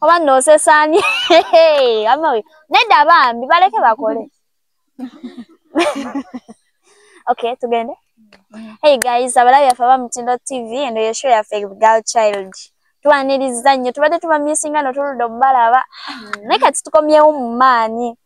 oba nosesani nedda bambi baleke bakole okay tugende hey guys abalabi yaffe aba mutindo tv eno yesho yaffe gal child twaniriza nnyo tubadde tubamisinga notuludde omubalaba naye kati tukomyewo mu maanyi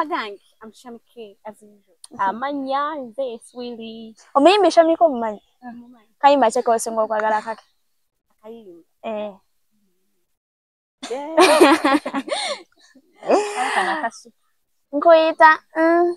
agange amushamike amanya nze swili omuyimbi shamike omumanyi kayimba kyeka osinga okwagala kake eh. nkuyita mm,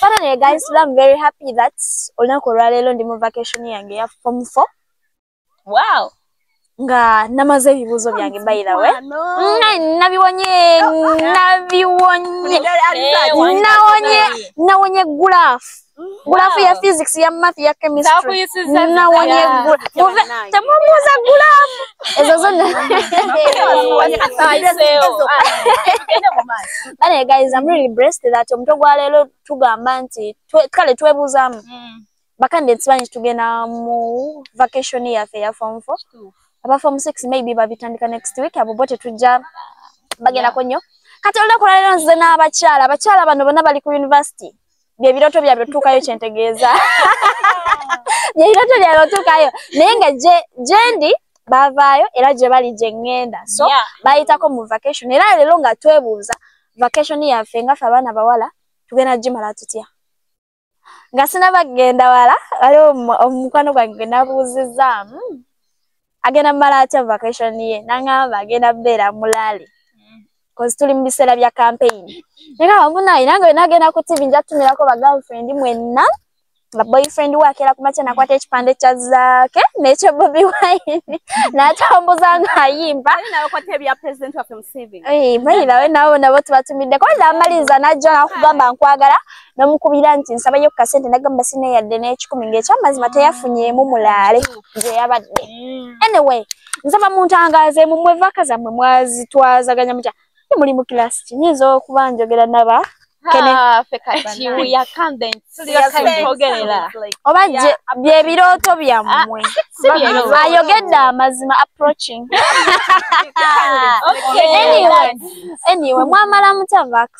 but anyway guys today i'm very happy that olunaku olwaleero ndi mu vacation yange ya form 4 wow nga namaze ebibuuzo byange bairawe nabiwonye nabiwonye nawonye nawonye gulaf gulaf ya physics ya math ya chemistry nawonye temubuuza gulaf ezo zonna Bale guys, I'm really blessed that omuto gwa lero tugamba nti kale twebuzamu. Mm. Bakande tsibanyi tugena mu vacation ya fe ya form 4. Aba form 6 maybe babitandika next week abo bote tujja bagenda yeah. konyo. Kati olda kulala nze na abakyala, abakyala bano bona bali ku university. bye biroto byabwe tukayo kyentegeeza bye biroto byabwe tukayo naye nga jendi bavaayo era gye bali gye ŋŋenda so yeah. bayitako mu vacation era leero nga twebuuza vacation yaffe nga ffe abaana bawala tugenda gimala tutya nga sinaba kugenda wala waliwo omukwano gwange gwe nabuuzizaamu hmm. agenda mumala atya vacation ye nangamba agenda beera mulaale kozi tuli mu biseera bya campaign naga wamunaye nange wena agenda ku tv nja tumirako bagirlfriend mwenna nga boyfriend we akeera kumakya nakwata ekipande kya zaake nekyo bobi wine natambuza ngaayimba bayirawe nabo nabo tubatumiddeko namaliriza najja nakugamba nkwagala namukubira nti nsabayo kasente nagamba sine yadde n'ekikumi ng'ekyamazima teyafunyeemu mulaale gye yabadde mm. anyway nsaba muntangaze mu mwe vaka zammwe mwazitwazaganya mutya ni muli mu kilasi ki nyinza okuba njogera naba oba byebirooto byammwe ah, ayogedde amazima approaching anyway mwamala mutya vaks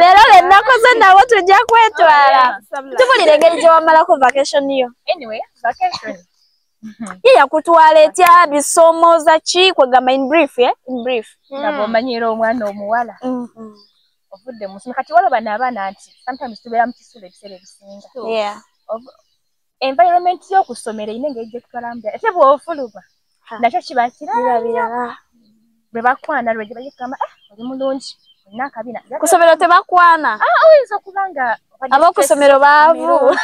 leero lwe nakoze nabo tujja kwetwala tubulira engeri gye wamalako vacation yo ye yakutwala etya bisomo za ki kwegamba in brief eh? in brief hmm. omanyira omwana omuwala mm-hmm. ovudde musomo kati waloba naabaana nti sometimes tubeera mu kisulo ebiseera ebisinga environment yo kusomera ine ngeje kukalambya ese bo ofuluba nakyo kiba kirabira birabira bwe bakwana lwe gibaje kama ah oli mulungi na kabina kusomera te bakwana ah oyinza kubanga abo kusomero bavu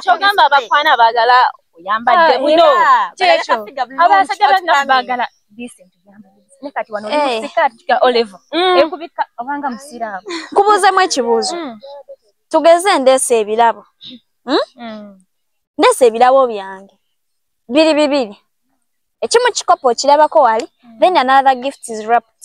kyogamba bakwana bagala oyambadde buno kyekyo abasajja bagala kubuuzemu ekibuuzo mm. tugeze ndeesa ebirabo hmm? mm. ndeesa ebirabo byange biri bibiri ekimu kikopo okirabako wali mm. then another gift is wrapped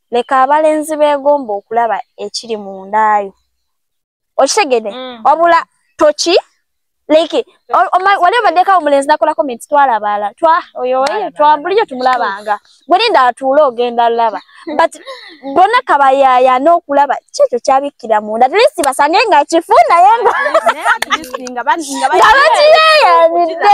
leka abalenzi begomba okulaba ekiri mu ndaayo okitegede mm. wabula toki like wali obaddeko omulenzi nakola comments twalabaala twa oyo twabulijo tumulabanga bwelinda atuule ogenda laba but bona kabayaya n'okulaba kyekyo kyabikkira munda atlist basange nga kifu naye ngabakiyeyanidde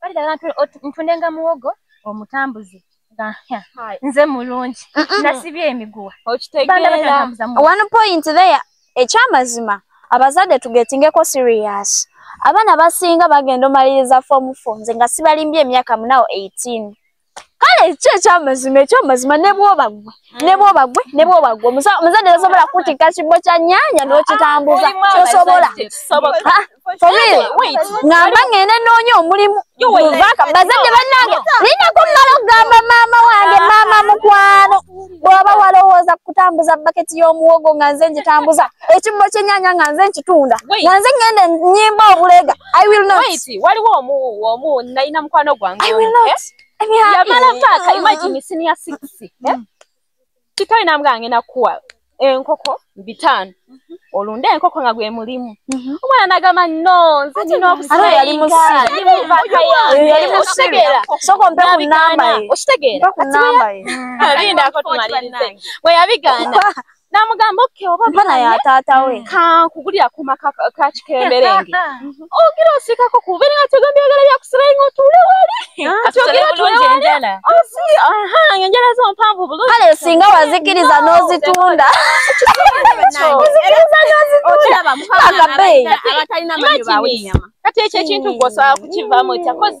baligala ntundenga muwogo omutambuze nze mulungi nasibye emiguwa one point there ekyamazima abazadde tugetingeko serious abaana basinga bagenda omaliriza fomu fo nze nga sibalimbye emyaka munawo 18 kale ekyo ekyamazima ekyamazima nebwoba gwe nebwoba gwe nebwoba gwe omuzadde tasobola kutikka kibbo kya nyanya n'okitambuza tosobola ngamba ngende noonya omulimu bazadde bannange linako mmala okugamba maama wange maama mukwano bw'oba walowooza ku kutambuza baketi y'omuwogo nga nze ngitambuza ekibbo ky'ennyanya nga nze nkitunda nga nze ngenda nnyimba obulega i will not waliwo omu omu nalina mukwano gwange i will not yamala paaka imagine senior six eh? mm. kikawe namuganga ngenda kuwa enkoko eh, bitaano mhm. olunde enkoko nga gwe mulimu mhm. omwana nagamba no nze nina okusaaokitegeraokitegeralindaako tumalirize bwe yabigaana namugamba oke oba kankugulirakuma kakikemberenge ogira osikako kuba nga tegambye agala byakusirayi nga otuule wali enjala zo mpanvu bulkale singa wazikiriza n'ozitunda kati ekyo ekintu gwosobola kukivaamu ekyakozi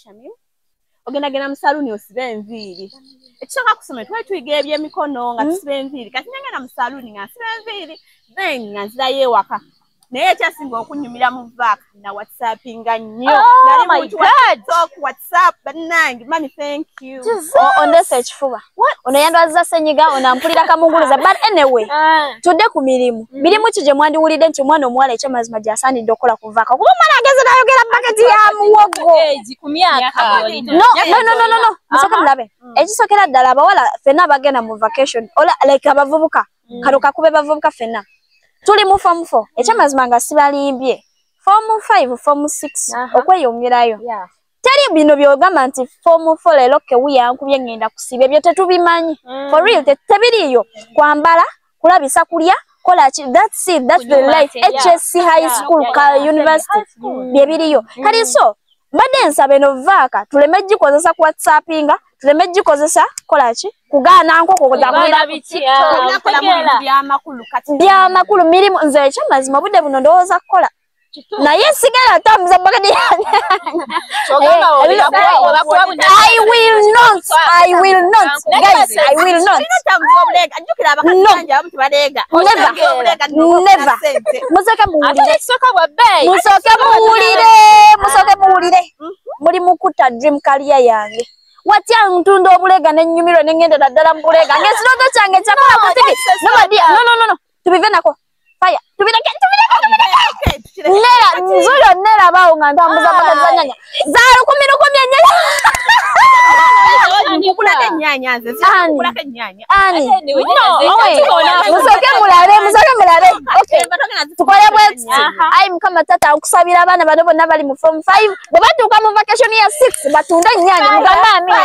shamim ogendagenda mu saluuni osiba enviiri ekisooka kusoma twali tuyiga ebyemikono nga hmm? tusiba enviiri kati nengenda mu saluuni nga nsiba enviiri then nga nzirayo ewaka naye ekyasinga okunyumira mu vaaka na whatsappinga nnyo oh whatsapp bannange mami thank you oh, ondesa ekifuba ono yandwaziza senyiga ono ampulira kamunguluza but anyway ah. tudde ku mirimu mm. mirimu ki gye mwandiwulidde nti omwana omuwala ekyamazima gyasaanidde okukola kuvaka kuba omwana ageze nayogera paketi ya muwogo musoke mulabe mm. ekisokera ddala abawala fenna abagenda mu vacation ola like abavubuka mm. kano kakube bavubuka fenna tuli mu fomu fo ekyamazima nga sibalimbye fomu five fomu six okweyongerayo teri bino byogamba nti fomu fo leero kewu yankubye ngenda kusiba ebyo tetubimanyi mm. for real tebiriiyo kwambala kulabisa kulya kola ki that's it that's the life hsc high school ka university byebiriyo mm. kati so mbadde nsaba eno vaaka tuleme gikozesa ku whatsappinga tuleme gikozesa kola ki kugaana nkoko byamakulu mirimu nze ekyamazima obudde buno ndowooza kukola naye sigala atambuza bakadi i will not i will not guys i will not musoke muwulire musoke muwulire musoke muwulire muli mukuta dream kaliya yange watya ntunda obulega nenyumiro nengenda naddala mubulega ngesirooto kyange kyakola kutiki nobadi no no no no tubive nako no, no, no, no. faya tubireke tubireke tubireke nera nzuyo nera bawo nga ntambuza mpaka za nyanya za lukumi lukumi enyanya musoke mulabe musoke mulabe tukole bweti ayi mukama tata okusabira abaana bano bonna bali mu form five bwe batuuka mu vacation ya six batunde enyanya mugambe amina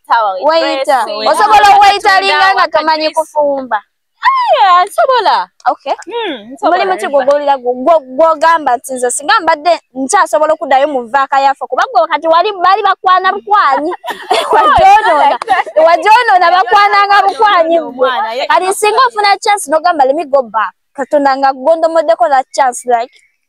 osobola oweyitalinga nga tomanyi kufumba nsobola hmm, muli muti gwogolira gwogamba nti nze singa mbadde nkyasobola okuddayo mu vaaka yaffe kuba gwe kati wali bali bakwana bukwanyi wajonoona wajonoona bakwananga bukwanyi gwe kati singa ofuna chance nogamba lemigoba katonda nga gondomoddeko that chance like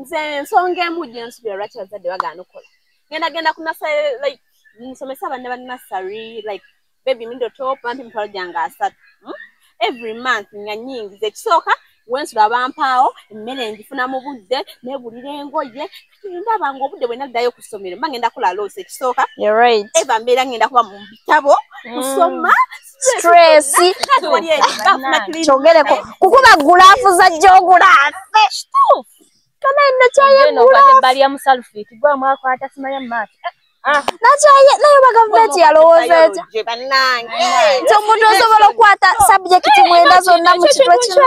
nze ensonga emu gye nsubira lwaki bazadde bagaana okukola ngenda genda ku nasale like nsomesa abaana ba nasary like baby middle top bampi emitwalo gyange asatu hmm? every month nga nyingiza ekisooka wensula bampaawo emmere ngifuna mu budde negulira engoye ndaba nga obudde bwe naddayo ku ssomero mba ngenda kola loosi ekisooka eva mbeera ngenda kuba mu bitabo mm. kusoma stress kyogereko kukuba gulaafu za gyogula afe kana ino kyayegulabalya musalufiti gwamwakwata simanya mumaaso Ah. nakyaye naye oba gavumenti yalowooza etya nti omuntu osobola okukwata sabjekiti mwenda zonna mu kitwe kino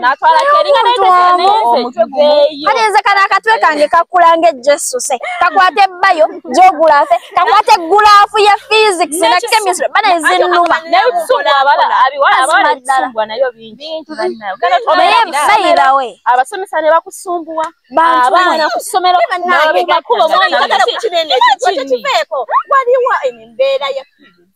natwala keringa naye omutwe gumu kati nze kana akatwe kange kakula nga ejesuse kakwata ebbayo jogulafe kakwata eggulaafu ya physics na chemistry bana ezinnuma naye bayirawe abasomesa ne bakusumbuwa abaana ku ssomero nabegakuba omwana kinene kikiveeko waliwo embeera ya physics